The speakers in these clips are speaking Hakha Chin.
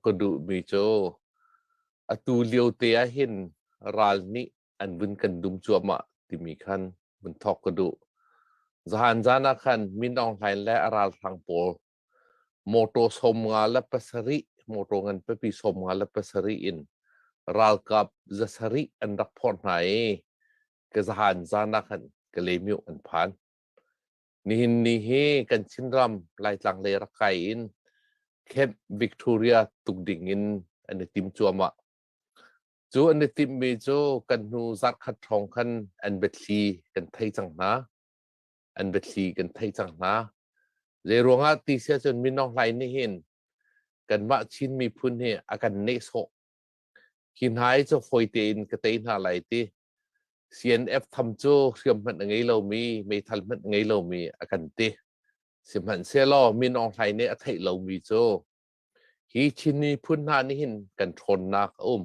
ka duhmi cu atu liote ah hin ral nih an vun kan dum cuahmah timi khan vun thawk ka duh zaan zaan ah khan Min Aung Hlain le a ralhrang pawl motor som nga le pasarih motor ngan pipi som nga le pasarih in ralkap zasarih an rak phawr hna i ka zaan zaan ah khan ka lemiu an phan Nihin ni hi kan Chinram Laitlang le Rakhai in Camp Victoria tuk ding in an i tim cuahmah. Cu an i timmi cu kan hnu zarkhat hrawng khan an biathli kan thei cang hna. An biathli kan thei cang hna. Zeiruangah ti sia cun Mino Hlai nih hin kanmah Chin miphun hi a kan nehsawh. Hi hna hi cu fawite in ka tei hna lai ti CNF tham cu hriam hmanh a ngei lomi meithal hmanh a ngei lomi a kan ti. Sihmanhsehlaw Min Aung Hlaing nih a theih lomi cu hi Chin miphun hna nih hin kan ṭhawnnak a um.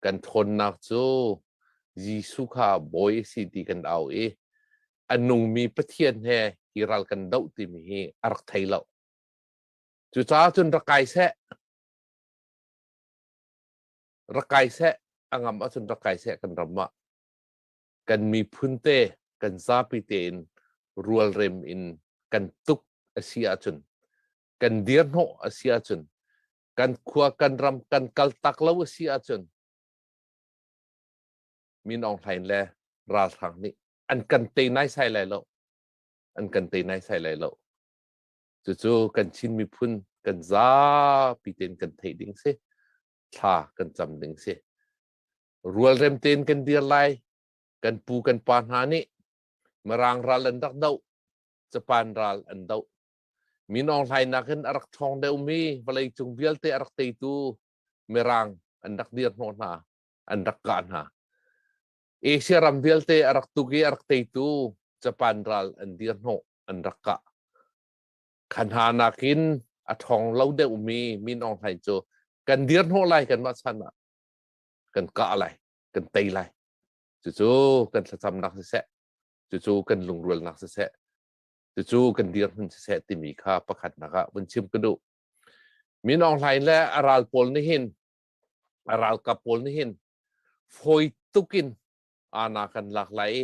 Kan ṭhawnnak cu Jesuh kha bawi a si ti kan au i a nungmi Pathian he i ral kan doh timi hi a rak thei lo. Cucaah cun rak kai seh. rak kai seh a ngam ahcun rak kai seh kan ram ah kan miphun te kan zapi te in rualrem in kan tuk a si ahcun kan dir hnawh a si ahcun kan khua kan ram kan kal tak lo a si ahcun min ong hlain le ralhrang nih an kan tei nai sai lai lo an kan tei nai sai lai lo cucu kan chin miphun kan zapi ten kan thei ding si thla kan cam ding si rualrem tein kan dir lai kan pu kan pa hna nih mirang ral an rak do japan ral an do minong hlainak in a rak thawng deuh mi vawlei cung vialte a rak teitu mirang an rak dir hnawh hna an rak kah hna asia ram vialte a rak tuk i a rak teitu japan ral an dir hnawh an rak kah kha hna nakin a ṭhawng lo deuhmi min awng hlai cu kan dir hnawh lai kanmah chan ah kan kah lai kan tei lai cucu kan thlacamnak siseh cucu kan lungrualnak siseh cucu kan dir hmun siseh timi kha pakhatnak ah vun chim ka duh min awng hlain le a ral pawl nih hin a ralkap pawl nih hin fawi tukin ana kan lak lai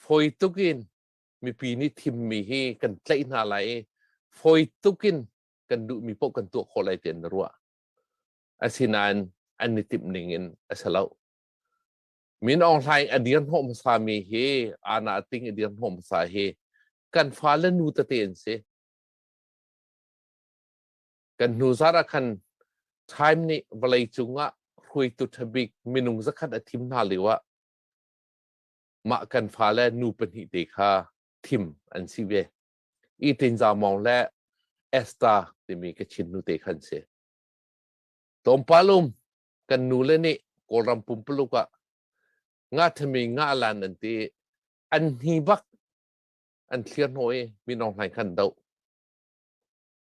fawi tukin mipi nih thimmi hi kan tlaih hna lai i fawi tuk in kan duhmi paoh kan tuah khawh lai tiah na ruah asinain an i timh ning in a si lo min aung hlaing a dir hnawh hmasa mi hi ana ting i dir hnawh hmasa hi kan fale nu tete an si kan hnu zar ah khan time nih vawlei cung ah hruaitu ṭhabik minung zakhat a thim hna lio ah mah kan fale nu pahnih te kha thim an si ve. I Tinzau Mawng le Esther timi ka chinnu te khan si. Tlawmpalum kan nu le nih Kawlram pumpuluk ah nga thami nga lan an ti an hni bak an thlir hnoi minong hlai khan do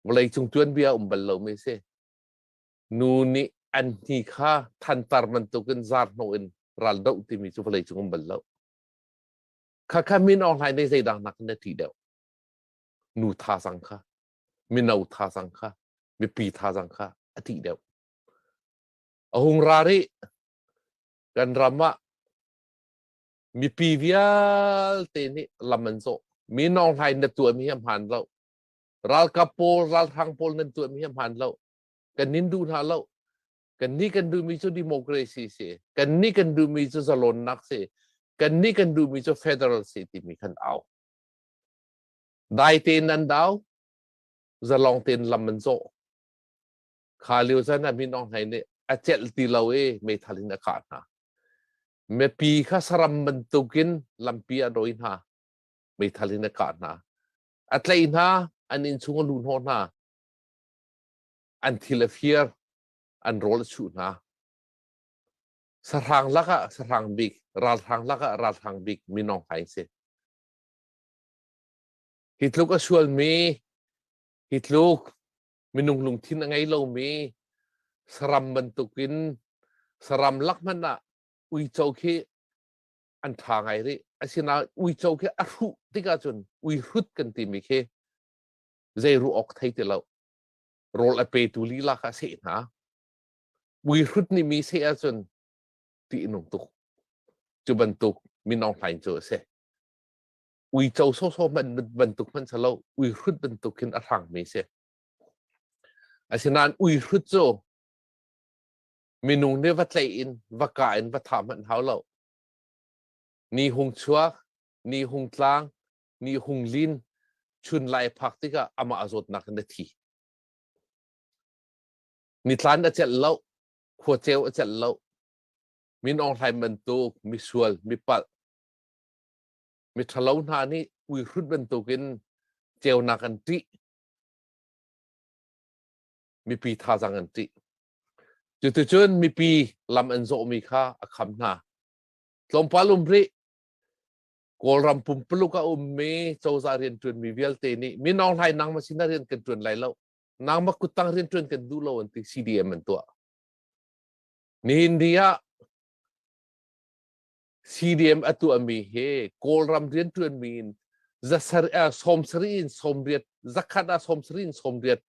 vawlei cung tuan bia um bal lo mi si nu nih an hni kha thantar bantukin zarhno in ral doh timi cu vawlei cung um bal lo khakha min ohlai nei zeidang nak na ti deuh nu tha sang kha mino tha sang kha mipi tha sang kha a ti deuh a hung ra ri kan ram ah mipi vialte nih lam an zawh mi nong hlai na tuam hi a hman lo ralkap pawl ralhrang pawl nan tuam hi a hman lo kan nin duh hna lo kan nih kan duhmi cu democracy si kan nih kan duhmi cu zalonnak si kan nih kan duhmi cu federal si timi kan au dai tein an dau zalong tein lam an zawh kha lio zan a min ong hlei nih a celh ti lo i meithal in a kah hna mipi kha saram bantukin lampi a doi hna meithal in a kah hna a tlaih hna an inn chung a luh hnawh hna an thil a fir an rawl a chuh hna sahrang lakah sahrang bik ralhrang lakah ralhrang bik minong hai si hi tluk a sualmi hi tluk minung lungthin a ngei lomi saram bantukin saram lak hmanh ah uico khi an tha ngai rih asinain uico khi a hruh tik ahcun ui hrut kan timi khi zei ruah awk thei ti lo rawl a petu lila kha seh hna muihrut ni mi seh ahcun ti nung tuk cu bantuk minong hlain cu a si uico sawsawm man bantuk hman salo uihrut bantuk hin a hrang mi si asinain uihrut cu minung nih va tlei in va ka in va tham hmanh hau lo ni hung chuak ni hung tlang mi hung lin chun lai phak tikah amah zawtnak na thi nithlan a celh lo khua ceu a celh lo min onghlai bantuk misual mipalh miṭhalo hna nih uihrut bantukin ceunak an ṭih mipi thazang an ṭih cuticun mipi lam an zawhmi kha a kham hna tlawmpal um rih Kawlram pumpuluk a ummi cozah riantuanmi vialte nih mino hlai nangmah sin ah rian kan tuan lai lo nangmah kuttang riantuan kan duh lo an ti CDM an tuah nihin ni ah CDM a tuahmi hi Kawlram riantuanmi in zasar uh, sawmsari in sawmriat zakhat ah sawmsari in sawmriat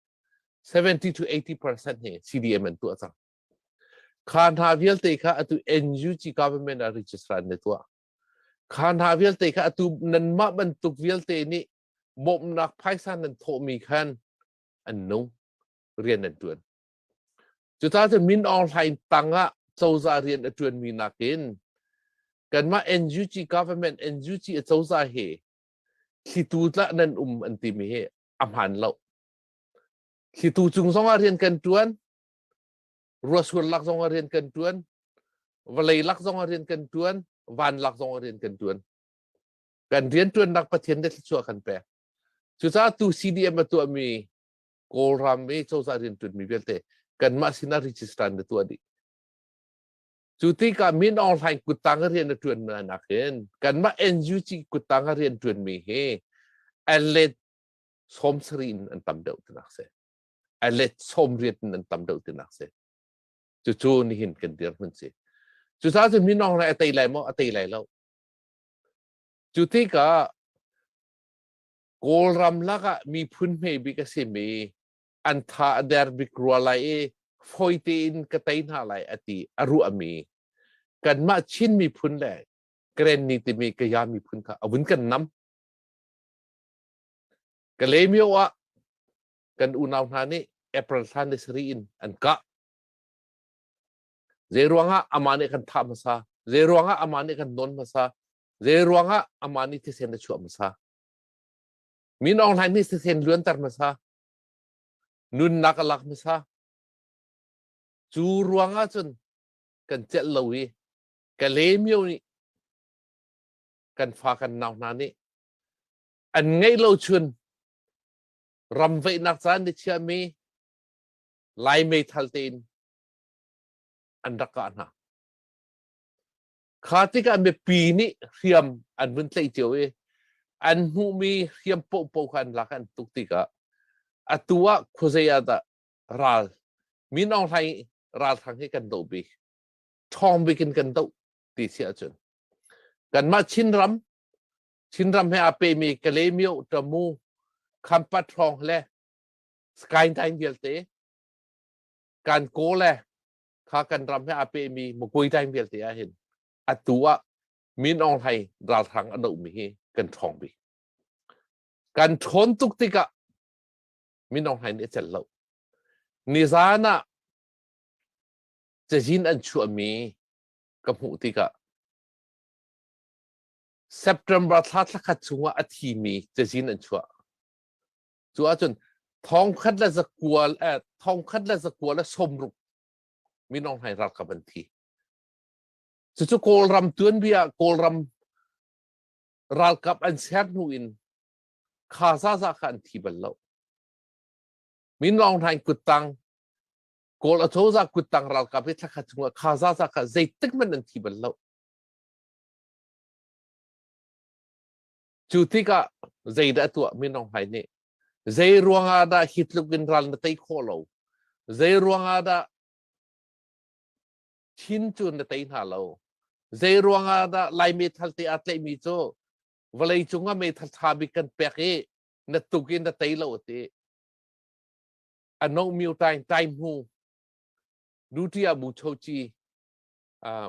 70 to 80 percent hi CDM an tuah cang kha hna vialte kha atu NUG government a registrar ne tuah Kha hna vialte kha atu nanmah bantuk vialte nih bawmhnak phaisa nan thawhmi khan an nung rian an ṭuan. Cucacun Min Aung Hlaing tangah cozah rian a ṭuanmi nakin kanmah NUG government NUG cozah hi thlitu tlah nan um an timi hi a hmaan lo. Thlitu cung zongah rian kan ṭuan, ruahsual lak zong ah rian kan tuan vawlei lak zong ah rian kan tuan van lak zong ah rian kan tuan kan riantuannak pathian le thluachuah kan pek cucaah tu CDM a tuahmi Kawlram mi cozah riantuanmi vialte kanmah sinah register na tuah dih cu tikah min online kuttang rian a tuan na nak in kanmah NUG kuttang rian tuanmi hi an let sawm sari in an tam deuh tunak si a let sawmriat in an tam deuh tinak si cucu nihin kan dirhmun si cusa cu minong na a tei lai maw a tei lai lo cu tikah kawlram lakah miphun hme bik a simi an tha a der bik rua lai i foite in ka tei hna lai a ti a ruahmi kanmah chin miphun le kren ni timi kaya miphun kha a vun kan nam ka lemio ah kan unau hna nih April thla ni sari in an kah. Zei ruangah amah nih kan thah hmasa? Zei ruangah amah nih kan nawn hmasa? Zei ruangah amah nih thisen a chuah hmasa? Min Aung Hlaing nih thisen luanter hmasa. Nunnak a lak hmasa. Cu ruangah cun kan celh lo i Kalemio nih kan fa kan nau hna nih an ngeih lo chun ram veihnak caan ni chiahmi lai meithal tein an rak kah hna. Kha tikah mipi nih hriam an vun tlaih cio i an hmuhmi hriam pohpoh kha an lak an tuk tikah atu ah khuazei ah dah ral min aung hlai ralhrang hi kan do bi ṭhawng bik in kan do ti si ahcun kanmah Chin ram Chinram he a pemi Kalemio Tamu Khampat hrawng le Skytine vialte kan ko le kha kan ram he a pemi Mukuitain vialte ah hin atu ah Min Aung Hlaing ralhrang a dohmi hi kan ṭhawng bik kan ṭhawn tuk tikah Min Aung Hlaing nih a celh lo nizan ah cazin an chuahmi ka hmuh tikah September thla thlakhat chungah a thimi cazin an chuah. Cu ahcun thongkhat le zakua eh, thongkhat le zakua le somruk minong hai ralkap an thi. Cucu Kawlram tuanbia Kawlram ralkap an ser hnu in kha zaza kha an thi bal lo. Minong hai kuttang Kawl achoza kuttang ralkap hi thlakhat chungah kha zaza kha zeitik man an thi bal lo. Cu tikah zeidah a tuah Min Aung Hlaing nih zei ruangah dah hi tluk in ral na tei khawh lo zei ruangah dah thin cu na tei hna lo zei ruangah dah lai meithal te aa tlaihmi cu vawlei cungah meithal ṭha bik kan pek i na tuk in na tei lo ti a no myo tain tai mu duty abu chochi uh,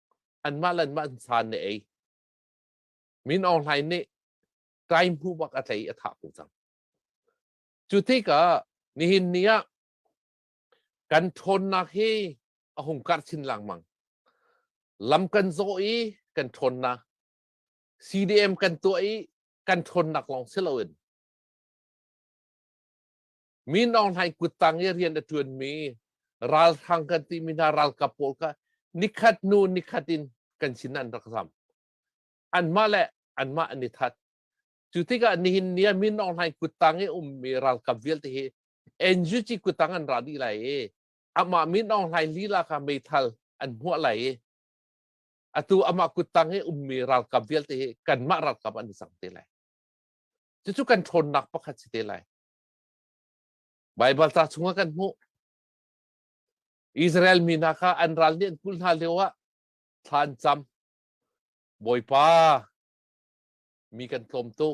anmah le anmah san na ei min aung hlain nih kai hmu bak a tlei a thah ko cang cu tikah nihin ni ah kan ṭhawnnak hi a hung karh chin lengmang lam kan zawh i kan ṭhawnnak CDM kan tuah i kan ṭhawnnak lawng si loin Mi Nawn Hlaing kuttang i rian a ṭuanmi ralhrang kan timi hna ralkap pawl kha nikhat hnu nikhat in kan sin an rak zam. Anmah le anmah an i that. Cu tikah nihin ni ah Min Aung Hlaing kuttang i ummi ralkap vialte hi NUG kuttang an ra dih lai i amah Min Aung Hlaing lila kha meithal an hmuah lai i atu amah kuttang i ummi ralkap vialte hi kanmah ralkap an i cang te lai. Cucu kan ṭhawnnak pakhat si te lai. Baibal ca chungah kan hmuh. Israel mi hna kha an ral nih an kulh hna lio ah thlancham Bawipa mi kan tlawmtu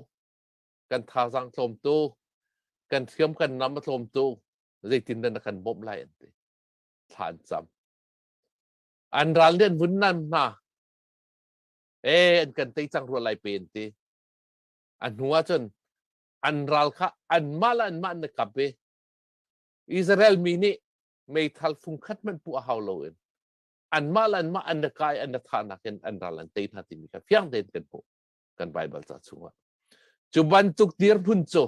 kan thazaang tlawmtu kan hriam kan nam a tlawmtu zeitin dah na kan bawmh lai an ti thlancham an ral nih an vun nan hna e an kan tei cang rua lai pe an ti a hnu ah cun an ral kha anmah le anmah na kap i Israel mi nih meithal fungkhat hmanh puh a hau loin anmah le anmah an na kai an na thahnak in an ral an tei hna timi kha fiang tein kan hmuh kan Bible ca chungah cu bantuk dirhmun cu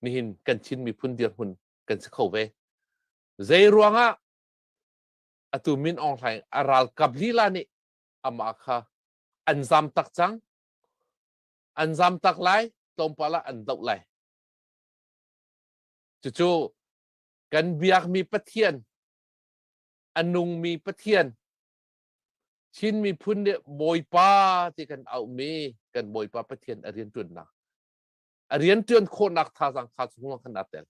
nihin kan Chin miphun dirhmun kan si kho ve zei ruangah atu min ong hlaing a ral kap lila nih ama kha an zam tak cang an zam tak lai tlawmpal ah an doh lai cucu kan biakmi pathian a nungmi pathian Chin miphun nih Bawipa ti kan aumi kan Bawipa Pathian a rian ṭuannak a rian ṭuan khawhnak thazang kha cu hnuah kan tel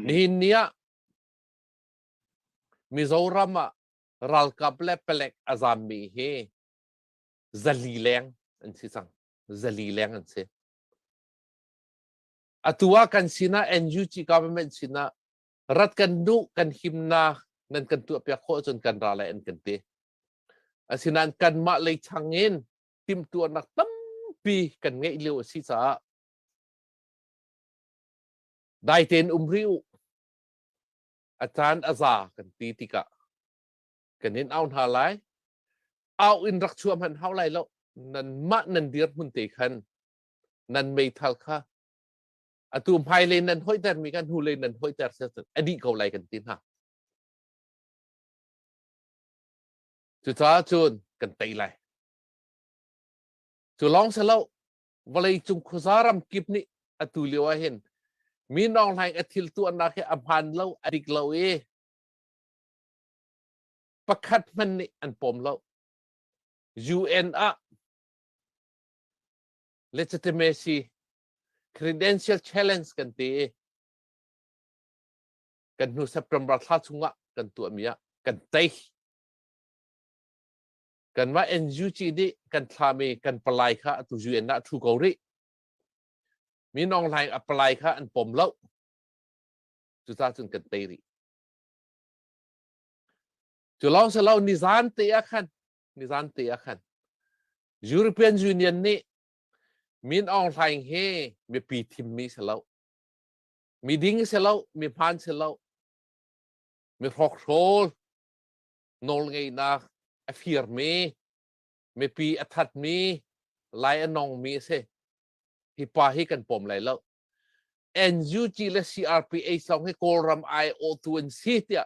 nihin ni ah Mizoram ah ralkap le palek a zammi hi zali leng an si cang zali leng an si atu ah kan sinah NUG government sinah rat kan nu kan himnak nan kan tuah piak khawh cun kan ra lai an kan ti asinain kanmah lei chang in timtuarnak tampi kan ngeih lio a si caah dai tein um ri u a caan a za kan ti tikah kan in au hna lai au in rak chuah hmanh hau lai lo nan mah nan dirhmun te khan nan meithal kha atu hmai le nan hoiter mi kan hnu le nan hoiter a dih ko lai kan ti hna cucaah cun kan tei lai cu lawng se lo vawlei cung khuazaram kip nih atu lio ah hin mi nong hlaing a thil tuannak hi a hman lo a dik lo i pakhat hmanh nih an pawm lo. UN ah legitimacy credential challenge kan ti i kan hnu September thla chungah kan tuahmi ah kan tei kanmah NUG nih kan thlami kan palai kha atu UN ah thu ko rih mi nong hlai a palai kha an pom lo cuta cun kan tei rih Cu lawng si lo nizan te ah khan nizan te ah khan European Union nih Min Aung Hlaing he mipi thimmi si lo miding si lo mi hmaan si lo mi hrokhrawl nawlngeihnak a firmi mipi a thatmi lai a nongmi a si hi pa hi kan pawm lai lo NUG le CRPH lawng hi Kawlram aiawhtu an si tiah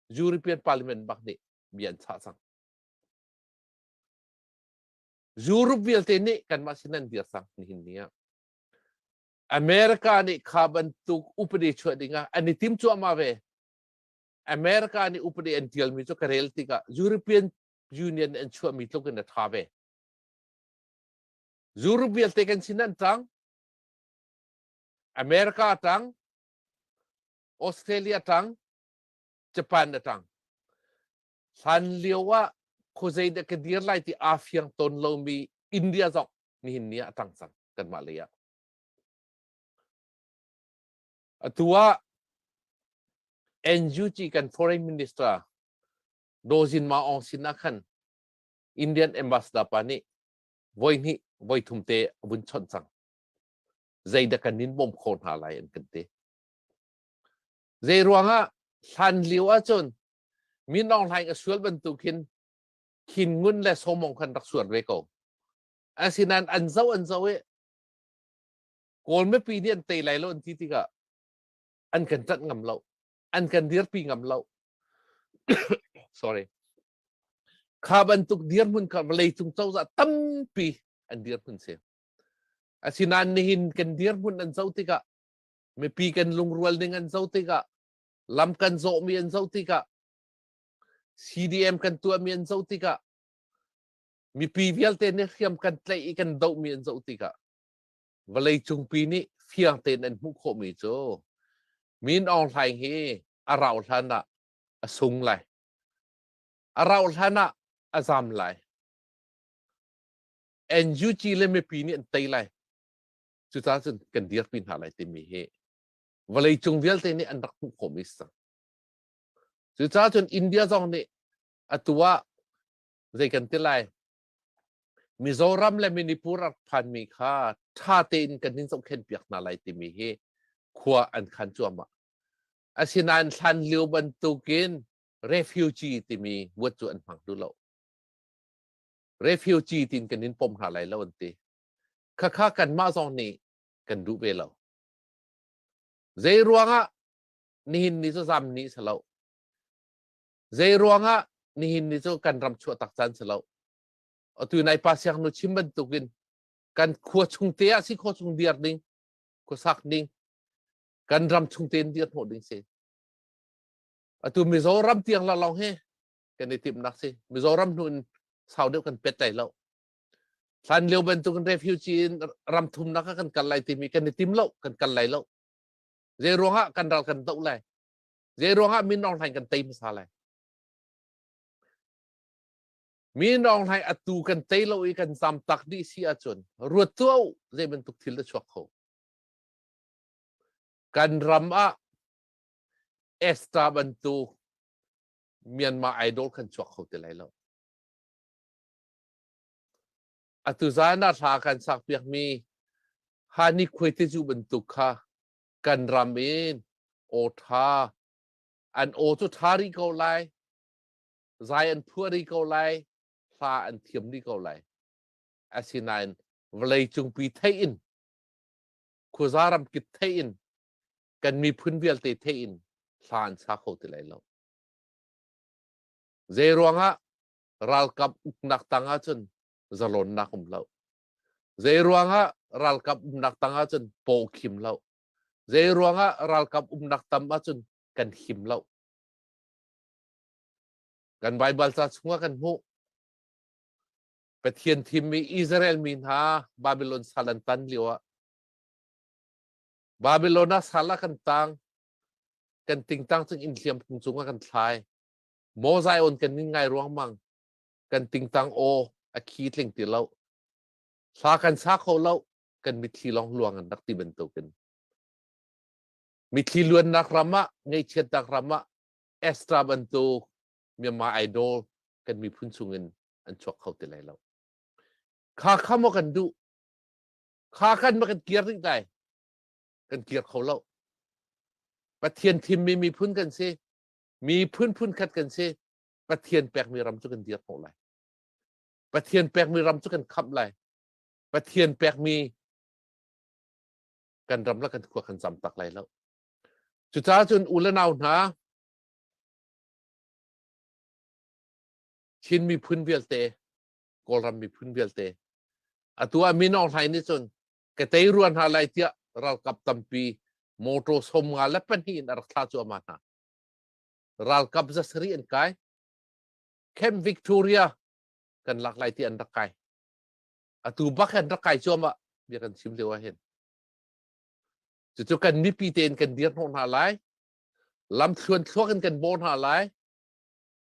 European Parliament bak nih bia an chah cang. Europe vialte nih kanmah sin an dir cang nihin ni ah. America nih kha bantuk upadi chuah ding ah an i tim cuahmah ve. America nih upadi an tialmi cu ka rel tikah European Union an chuahmi tluk in a tha ve. Europe vialte kan sin an tang. America tang, Australia tang, Japan da tang. Hlan lio ah khuazei dah ka dir lai ti aa fiang ton lomi India zong nihin ni ah a tang cang kanmah lei ah. Atu ah NUG kan foreign minister Daw Zin Maung sin ah khan Indian ambassador pa nih voihnih voithum te a vun chawnh cang zeidah kan in bawm khawh hna lai an kan ti zeiruangah hlan lio ahcun min Aung Hlaing a sual bantuk hin khin ngun le somong khan rak sual ve ko asinain an zo an zo i kawl mipi nih an tei lai lo an ti tikah an kan ṭanh ngam lo an kan dirpi ngam lo sorry Kha bantuk dirhmun kha vawlei cung cozah tampi an dirhmun si. Asinain nihin kan dirhmun an zo tikah, mipi kan lungrual ning an zo tikah, lam kan zawhmi an zo tikah, CDM kan tuahmi an zo tikah, mipi vialte nih hriam kan tlaih i kan dohmi an zo tikah, vawlei cungpi nih fiang tein an hmuh khawhmi cu, Min Aung Hlaing hi a rau hlan ah a sung lai. A rauhhlan ah a zam lai. NUG le mipi nih an tei lai. Cucaah cun kan dirpi hna lai timi hi vawleicung vialte nih an rak hmuh khawhmi si cang. Cucaah cun India zong nih atu ah zei kan ti lai Mizoram le Manipur rak phanmi kha ṭha tein kan in zohkhenpiak hna lai timi hi khua an khan cuahmah. Asinain hlanlio bantukin refugee timi buat cu an hmang duh lo. Refugee tin kan in pom hna lai lo an ti. Khakha kanmah zong nih kan duh ve lo. Zei ruangah nihin ni cu zam ni si lo. Zei ruangah nihin ni cu kan ram chuah tak caan si lo. Atu nai pa siang nu chim bantukin kan khua chung te ah si khua chung dir ding, khua sak ding, kan ram chung tein dir hnawh ding si atu mizoram tiang la long hi kan i timnak si mizoram hnu in sau deuh kan pet lai lo hlan lio bantuk refugee in ram thumnak kan kal lai timi kan i tim lo kan kal lai lo zei ruangah kan ral kan doh lai zei ruangah min ong hlain kan tei hmasa lai min ong hlai atu kan tei lo i kan zam tak dih si ahcun ruat tu zei bantuk thil da chuak kho kan ram ah extra bantuk Myanmar Idol kan chuak kho ti lai lo. Atu zan ah hla kan sak piak mi Hani Khuaiteju bantuk kha kan ram in aw tha an aw cu tha ri ko lai zai an phua ri ko lai hla an thiam ri ko lai asinain vawlei cungpi theih in khuaza ram kip theih in kan miphun vialte theih in hla an sa kho ti lai lo zei ruangah ralkap uknak tang ahcun zalonnak um lo zei ruangah ralkap umnak tang ahcun paw khim lo zei ruangah ralkap umnak tam ahcun kan him lo kan bible ca chungah kan hmuh Pathian thimmi Israel mi hna Babilon sal an tan lio ah Babilon ah sal ah kan tang kan tingtang cun inn hliam phung cungah kan thlai mozai on kan ning ngai ruangmang kan tingtang o a khi tling ti lo hla kan sa kho lo kan mitthli long luang an rak ti bantukin mitthli luannak ram ah ngaihchiatnak ram ah extra bantuk Myanmar Idol kan miphun chungin an chuak kho ti lai lo kha kha maw kan duh kha khan maw kan kir ding dai kan kir kho lo pathian thimmi miphun kan si miphun phun khat kan si pathian pekmi ram cu kan dir khawh lai pathian pekmi ram cu kan khamh lai pathian pekmi kan ram la kan khua kan zam tak lai lo cucaah cun u le nau hna Chin miphun vialte, Kawlram miphun vialte. Atu ah Min Aung Hlaing nih cun ka tei rua hna lai tiah ralkap tampi motor som nga le pahnih in a rak thlah cuahmah hna. Ralkap za sarih an kai. Camp Victoria kan lak lai ti an rak kai. Atu bak an rak kai cuahmah bia kan chim lio ah hin. Cucu kan mipi tein kan dir hnawh hna lai. Lam thluan thluak in kan baw hna lai.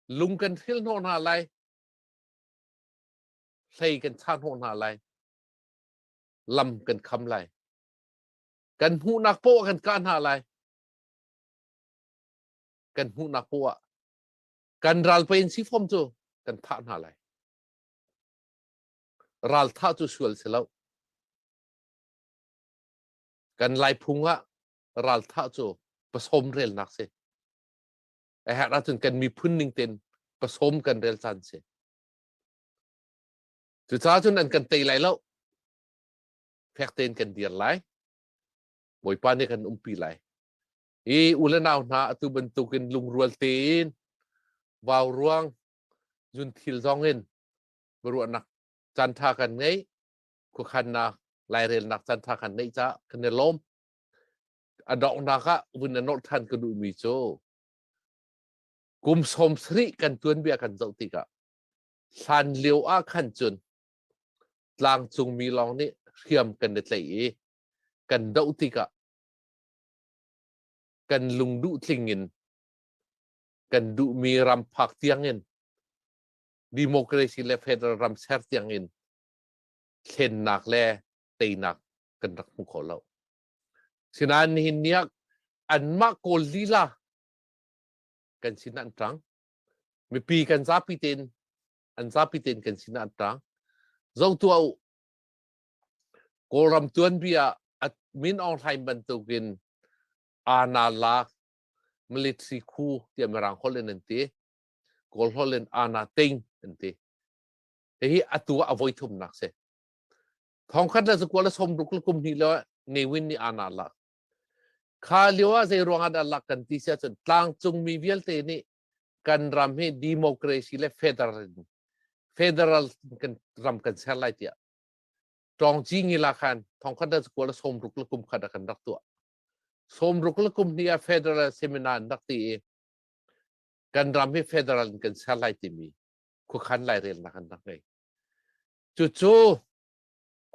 lung kan thil hnawh hna lai hlei kan cha hnawh hna lai lam kan kham lai kan hmuhnak poah kan kah hna lai kan hmuhnak poah kan ral pain si fom cu kan thah hna lai ral thah cu sual si lo kan lai phung ah ral thah cu pasom relnak si a herh ahcun kan miphun ning tein pasom kan rel caan si cucaah cun an kan tei lai lo fek tein kan dir lai bawipa nih kan umpi lai i u le nau hna atu bantukin lungrual tein vau ruang zun thil zongin ruahnak cantha kan ngei khuakhannak lairelnak cantha kan neih ca kan i lawm a donghnak ah vun a norh than ka duhmi cu kum sawm sarih kan tuanbia kan zoh tikah hlan lio ah khan cun tlangcung mi lawng nih hriam kan i tlaih i kan doh tikah kan lung duh tling in kan duhmi ram phak tiangin democracy le federal ram ser tiangin thlennak le teinak kan rak hmu kho lo Sinain nihin ni ah anmah kawl lila kan sinah an ṭang. Mipi kan zapi tein an zapi tein kan sinah an ṭang. Zong tuah u. Kawlram tuanbi ah at min ong hlain bantukin ana la military khu tiah mirang holh in an ti. Kawl holh in ana ting an ti. Hihi atu ah a voi thumnak si. thong khat le sakua le som ruk le kum hnih le ngewin ni ana lak kha lio ah zei ruang ah dah lak kan ti sia cun tlangcung mi vialte nih kan ram hi democracy le federal in federal kan ram kan ser lai tiah tongci ngila khan thong khat le sakua le som ruk le kum khat ah kan rak tuah som ruk le kum hnih ah federal seminar an rak ti i kan ram hi federal in kan ser lai timi khuakhan lai rel nak an rak ngei Cucu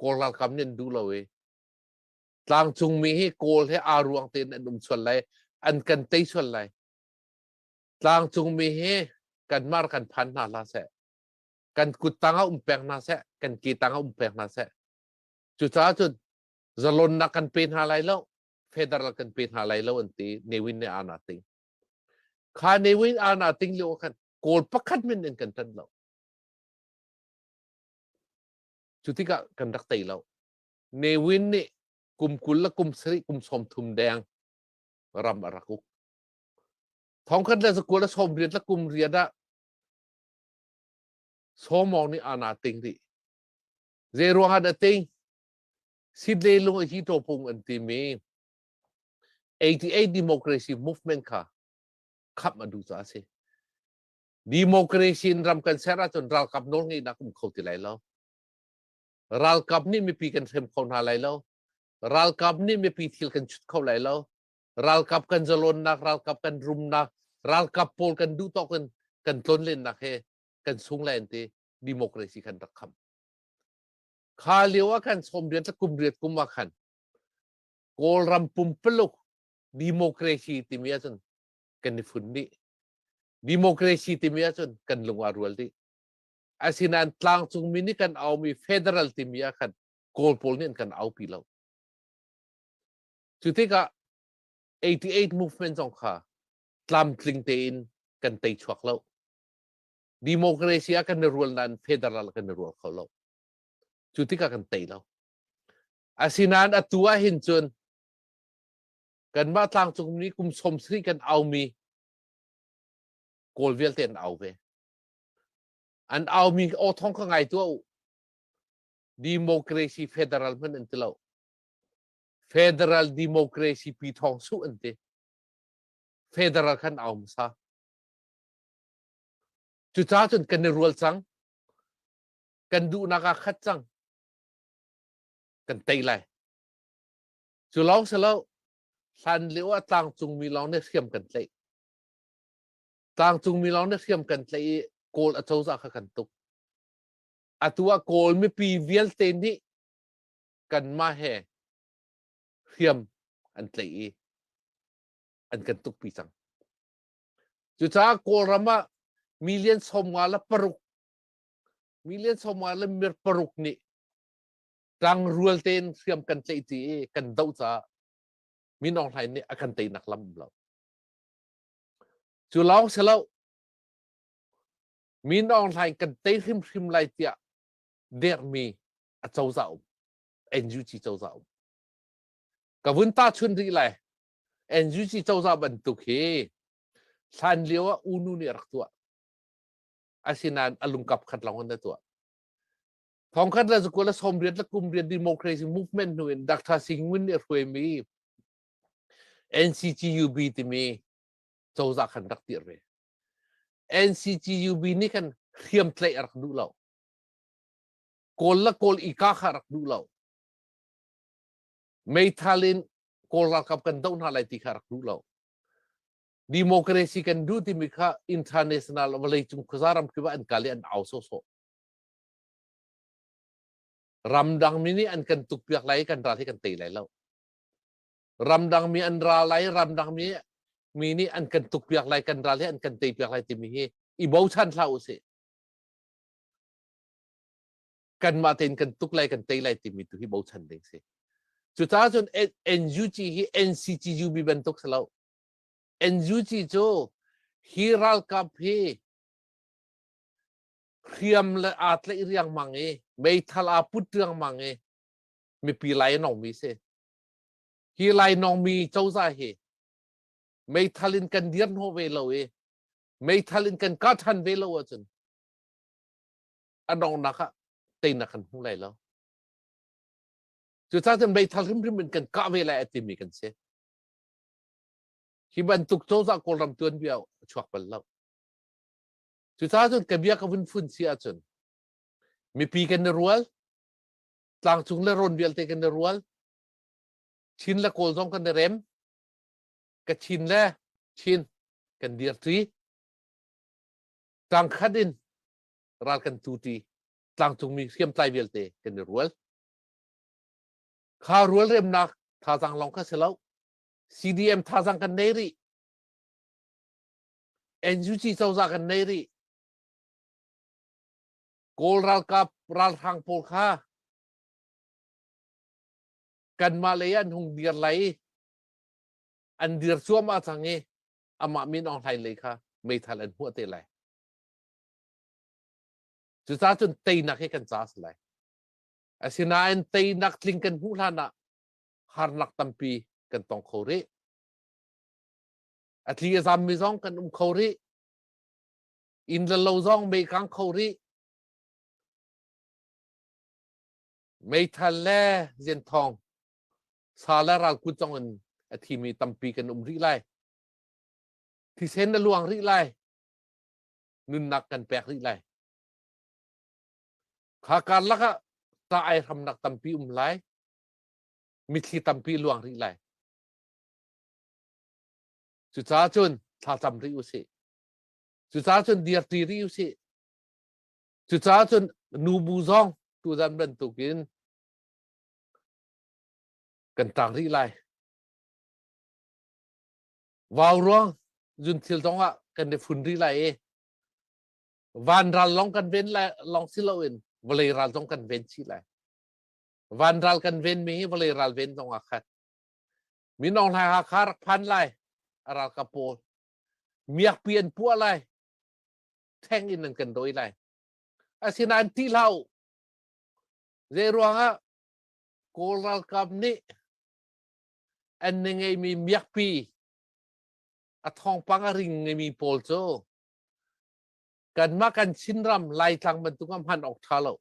Kawl ralkap nih an duh lo i tlangcung mi hi Kawl he aa ruang tein an um sual lai an kan tei sual lai tlangcung mi hi kan mar kan phan hna hlah seh kan kut tangah um peng hna seh kan ke tangah um peng hna seh cucaah cun zalonnak kan pe hna lai lo federal kan pe hna lai lo an ti newin ne ana ting kha newin ana ting lio khan kawl pakhat min in kan tan lo Cu tikah kan rak tei lo. Ne Win nih kum kul le kum sarih kum sawm thum deng ram a rak uk. Thongkhat le sakul le sawm riat le kum riat ah somong nih ana ting dih. Zei ruangah dah ting? Sidle lung hi to pung an timi 88 democracy movement kha khap a duh ca a si. democracy in ram kan ser ahcun ralkap nawl ngeihnak um kho ti lai lo ralkap nih mipi kan hrem kho hna lai lo ralkap nih mipi thil kan chut kho lai lo ralkap kan zalonnak ralkap kan rumnak ralkap pawl kan duh tawk in kan tlonlennak he kan sung lai an ti democracy kan rak kham kha lio ah khan som riat kum riat kum ah khan kawlram pumpuluk democracy timi ahcun kan i fun dih democracy timi ahcun kan lung a rual dih asinain tlangcung mi nih kan aumi federal timi ah khan kawl pawl nih an kan aupi lo cu tikah 88 movement zong kha tlamtling tein kan tei chuak lo democracy ah kan i rual nain federal kan i rual kho lo cu tikah kan tei lo asinain atu ah hin cun kanmah tlangcungmi kum som hri kan aumi kawl vialte an au ve an aumi aw thong kha ngai tuah u democracy federal hman an ti lo federal democracy pi thong su an ti federal khan au masa cuca cun kan i rual cang kan duhnak ah khat cang kan tei lai cu lawng si lo hlan lio ah tlangcungmi lawng nih hriam kan tlaih tlangcungmi lawng nih hriam kan tlaih i kawl acozah kha kan tuk atu ah kawl mipi vialte nih kanmah he hriam an tlaih i an kan tuk pi cang cucaah kawlram ah million sawmnga le paruk million sawmnga le mir paruk nih Tlangrual tein hriam kan tleih tti i kan doh caah Min Aung Hlaing nih a kan teinak lam um lo. Cu lawng si lo, Min Aung Hlaing kan tei hrimhrim lai tiah dermi a cozah um, NUG cozah um. Ka vun ta chun rih lai, NUG cozah bantuk hi hlan lio ah unu nih a rak tuah. Asinain a lungkap khat lawng an tuah. thongkhat le zakul le som riat le kum riat democracy movement nu in Dr. Singwin nih hruai mi NCGUB timi cozah kan rak tir ve NCGUB nih kan hriam tlaih a rak duh lo kawl la kawl ika kha rak duh lo meithal in kawl ralkap kan doh hna lai ti kha rak duh lo democracy kan duh timi kha international vawlei cung khuaza ram kiwa an kale an au sawsawh Ramdangmi nih an kan tukpiak lai i kan ral hi kan tei lai lo. Ramdangmi an ra lai, ramdangmi mi nih an kan tukpiak lai, kan ral hi an kan teipiak lai timi hi i bochan hlah u sih. Kanmah tein kan tuk lai, kan tei lai timi tu hi bochan ding si. Cucaah cun NUG hi NCCUB bantuk si lo. NUG cu hi ralkap hi hriam le aa tlaih riangmang i meithal aa put riangmang i mipi lainawngmi si hi lainawngmi cozah hi meithal in kan dir hnawh ve lo i meithal in kan kah ṭhan ve lo ahcun a dongnak ah teinak kan hmu lai lo cucah cun meithal hrimhrim in kan kah ve lai a timi kan si hi bantuk cozah kawlram tuanbia chuak bal lo Cucaah cun ka bia ka vun phun si ahcun mipi kan na rual, tlangcung le rawn vialte kan na rual, Chin le Kawl zong kan na rem, ka Chin le Chin kan dir ṭi, tlangkhat in ral kan tu ṭi, tlangcungmi hriamtlai vialte kan i rual. Kha rual remnak thazaang lawng kha si lo, CDM thazaang kan nei rih. NUG cozah kan nei rih. Kawl ralkap ralhrang pawl kha kanmah lei an hung dir lai i an dir cuam a cang i amah min Aung Hlain lei kha meithal an hmuh te lai. Cucaah cun teinak hi kan caas lai. Asinain teinak tling kan hmuh hlan ah harnak tampi kan tong kho rih. Atli a zammi zong kan um kho rih. Inn le lo zong meikang kho rih. Meithal le zianthong sa le ral kut zong in a thimi tampi kan um rih lai. Thisen na luang rih lai. Nunnak kan pek rih lai. Kha kar laka ta ai hramnak tampi um lai. Mitthli tampi luang rih lai. Cucaah cun thlacam rih u sih. Cucaah cun dirti rih u sih. Cucaah cun nu bu zong tuzan bantuk in kan taang rih lai. Vau ruang zun thil zong ah kan i fun rih lai i van ral long kan ven lai long si lo in vawlei ral zong kan ven chih lai. Van ral kan ven mi hi vawlei ral ven zong ah khan minong hlai ha kha rak phan lai a ral ka pawl miak pi an puah lai theng in an kan doi lai asinain ti hlau zei ruangah kawl ralkap nih an ne ngeimi miakpi a thongpang a ring ngeimi pawl cu kanmah kan chinram laitlang bantuk ah hman awk tha lo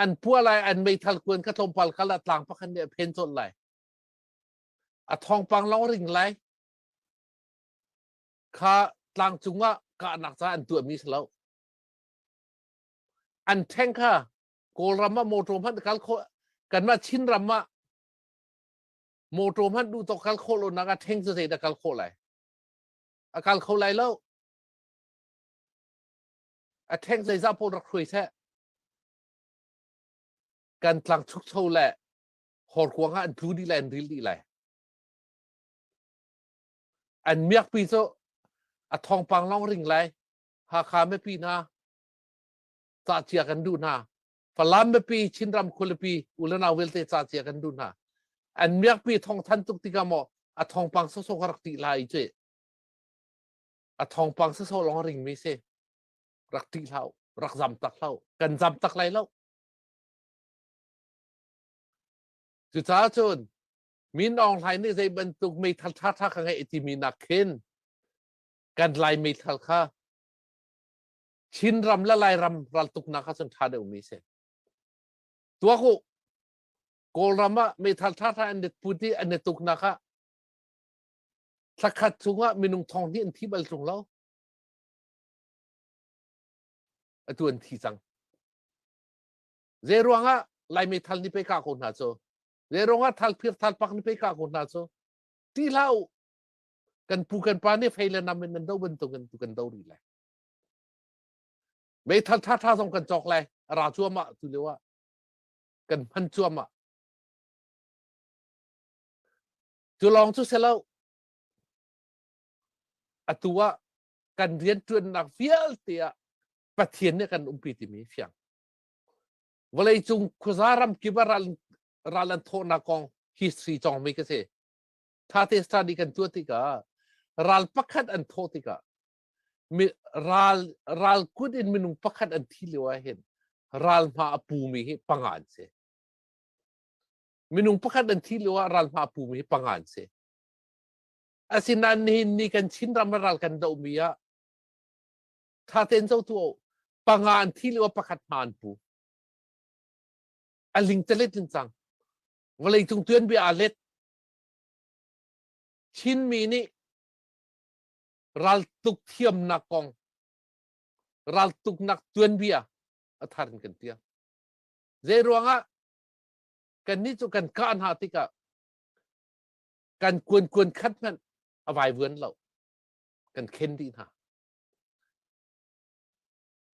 an pua lai an meithal kuan ka tlawmpal kal a tlang pakhat nih a phen cawlh lai a thongpang long ring lai kha tlang cungah kahnak ca an tuahmi si lo an tank ha kawlram ah motor hmanh kal kho kanmah chin ram ah motor hmanh duh to kal kho lo nak a tank cu zei da kal kho lai a kal kho lai lo a theng zeizah pawl rak hruai seh kan tlang chukcho le horkuang ah an tlu dih lai an ril dih lai an miakpi cu a thongpang long ring lai hakha mepi na ca cia kan duh hna falam mepi chinram khulipi ulanau vialte ca cia kan duh hna an miakpi thong than tuk tikah maw a thongpang sosok rak ti lai chứ a thawngpang sasawh lawng ringmi si rak tih hlau rak zam tak hlau kan zam tak lai lo cucaah cun min aung hlain nih zei bantuk meithal ṭha ṭha ka ngeih timi nak khin kan lai meithal kha Chin ram le Lairam raltuknak kha cun ṭha deuhmi si tuak u Kawlram ah meithal ṭha ṭha an net put i an net tuknak ah Thla khat chungah minung thong hnih an thi bal ṭung lo. Atu an thi cang. Zei ruangah Lai meithal ni pe ka ko hna cu? Zei ruangah thal phir thal pak ni pe ka ko hna cu? Ti hlah u. Kan pu kan pa nih fei le nam in nan do bantuk in tu kan do rih lai. Meithal tha tha zong kan cawk lai. Ra cuam ah tu lio ah. Kan hman cuam ah. Cu lawng cu si lo. Atu ah kan rianṭuannak vialte ah Pathian nih kan umpi timi fiang. Vawleicung khuaza ramkip ah ral, ral an thawhnak kong history cawngmi ka si. Tate star nih kan tuah tikah ral pakhat an thawh tikah ral ral kut in minung pakhat an thi lio ah hin ral hma a pumi hi panga an si. minung pakhat an thi lio ah ralhma pum hi panga an si asinain nihin ni kan chin ram ral kan dohmi ah thaten zo tu panga an thi lio pakhat hma an pu aling talet in cang vawlei cung tuan bia a let chinmi nih ral tuk thiamnak kong ral tuknak tuanbia a thar in kan tiang zei ruangah kannih cu kan kah hna tikah kan kuankuan khat hmanh a vaivuan lo kan khen dih hna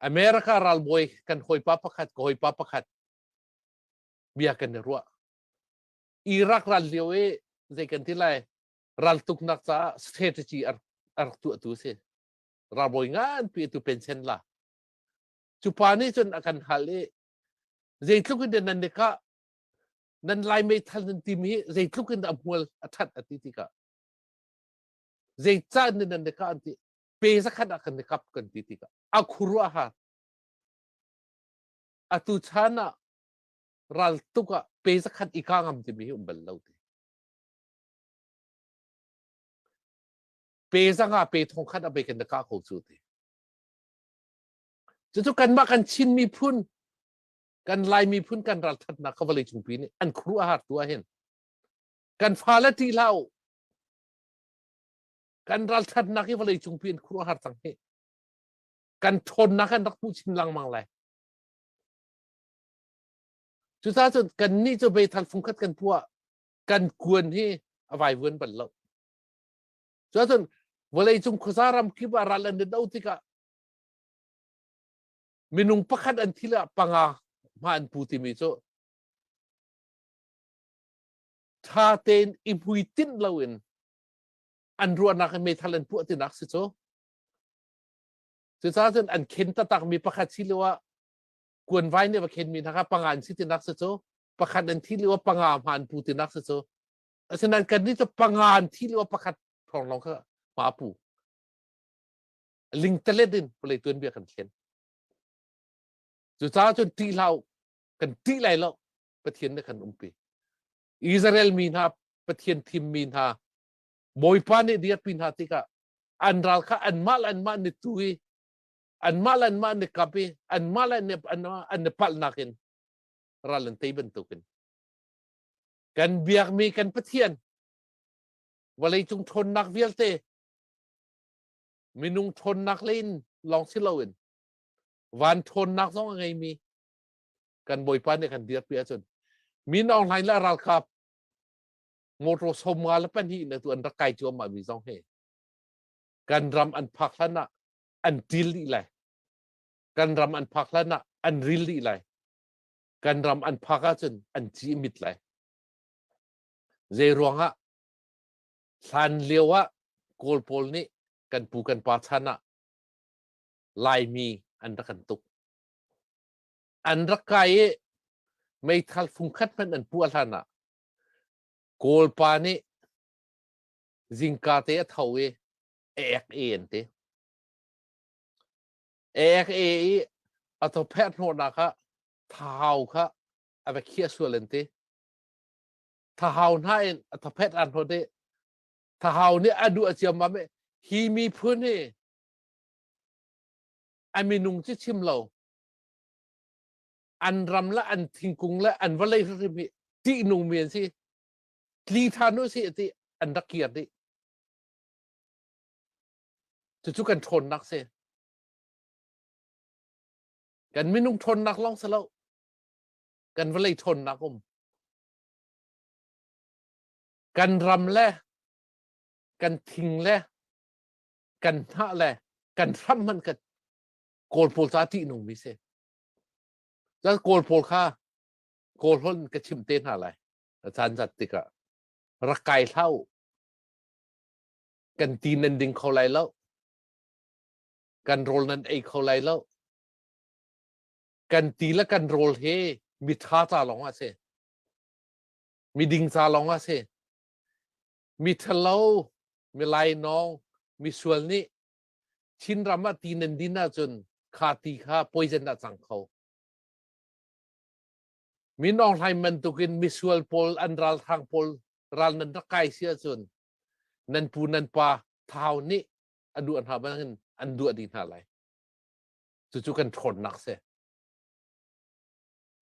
america ralbawi kan hawipa pakhat ka hawipa pakhat bia kan i ruah iraq ral lio i zei kan ti lai raltuknak caah strategy ar ar tuahtu si ralbawi nganpi tu pensen la cu pa nih cun a kan hal i Zeitluk in nan nek ah nan lai meithal nan tim hi zeitluk in a hmual a that a ti tikah zeicah nan nan nek ah an ti pe zakhat ah kan nekap kan ti tikah a khuru a har atu chan ah raltuk ah pe zakhat i ka ngam timi hi um bal lo ti pe zanga pe thong khat a pe kan ka ko cu ti cucu kanmah kan Chin miphun kan Lai miphun kan ralthatnak kha vawlei cungpi nih an khuru a har tu ah hin kan fale ti hlah u kan ralthatnak hi vawlei cungpi in khuru a har cang hi kan ṭhawnnak an rak hmuh chin lengmang lai cucaah cun kan nih cu beithal fungkhat kan puah kan kuan hi a vaivuan bal lo cucaah cun vawlei cung khuasa ram kip ah ral an in do tikah Minung pakhat an thil ah panga hma an pu timi cu tha tein i hmuitinh loin an ruahnak in meithal an puah tinak si cu. Cucaah cun an khen tatakmi pakhat si lio ah kuan vai nih va khenmi hna kha panga an si tinak si cu pakhat an thi lio ah panga hma an pu tinak si cu asinain kannih cu panga an thi lio ah pakhat thawng lawng kha hma pu lingtelet in vawlei tuanbia kan thlen cucaah cun ṭih hlah kan ṭih lai lo pathian nih kan umpi Israel mi hna pathian thim mi hna bawipa nih dirpi hna tikah an ral kha anmah anmah ni tu i anmah anmah ni kap i anmah an ni palhnak in ral an tei bantukin kan biak mi kan pathian vawlei cung ṭhawnnak vialte minung ṭhawnnak le in lawng si loin van ṭhawnnak zong a ngeimi kan bawipa nih kan dirpi ahcun min online le ralkap motor somnga le pahnih na tu an rak kai cuahmah mi zong hi kan ram an phak hlan ah an ṭil dih lai kan ram an phak hlan ah an ril dih lai kan ram an phak ahcun an cimit lai zei ruangah hlan lio ah kawl pawl nih kan pu kan pa chan ah laimi an rak kan tuk an rak kai i meithal fungkhat hmanh an puah hlan ah kawl pa nih zingka te a tho i ek e an ti ek e i a tho phet hnawhnak kha thau kha a va khiah sual an ti thahau hna in a thaphet an hot i thahau nih a duh a ciam ma hi miphun hi a minung ci chim lo an ram la an thingkung la an valei hrim hi ti nung men si tli than u si ti an rak kir di cucu kan ṭhawn nak si kan minung ṭhawn nak long sa lo kan valei ṭhawn nak um kan ram le kan thing le kan hnah le kan hram hman kan kawl pawl ca tih nung mi si cun kawl pawl kha kawl hlon ka chim te hna lai caan zat tikah rak kai hlau kan ti nan ding kho lai lo kan rawl nan ei kho lai lo kan ti le kan rawl he mitha ca lawng ah si miding ca lawng ah si miṭhalo milainawng misual nih Chin ram ah ti nan din ahcun kha ti kha poison ah cang kho min ong hlaim bantukin misual pawl an ral thang pawl ral nan rak kai si ahcun nan pu nan pa thau nih a duh hna bangin an duah dih hna lai cucu kan ṭhawnnak si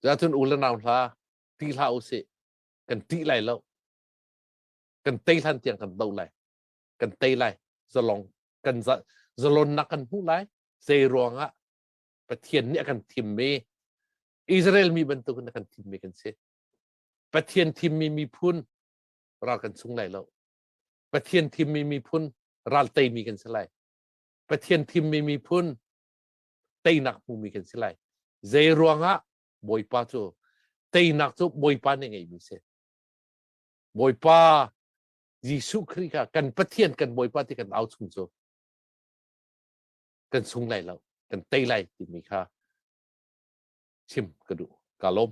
cuahcun u le nau hla ṭih hlah u sih kan ṭih lai lo kan tei hlan tiang kan do lai kan tei lai zalong kan zalonnak kan hmuh lai zei ruangah pathian nih a kan thimmi Israel mi bantukin a kan thimmi kan si pathian thimmi miphun ral kan chung lai lo pathian thimmi miphun ral teimi kan si lai Pathian thimmi miphun teinak hmumi kan si lai. Zei ruangah Bawipa cu teinak cu Bawipa nih ngeihmi si. Bawipa Jesuh Khrih kha kan Pathian kan Bawipa ti kan au chung cu kan sung lai lo kan tei lai timi kha chim ka duh ka lawm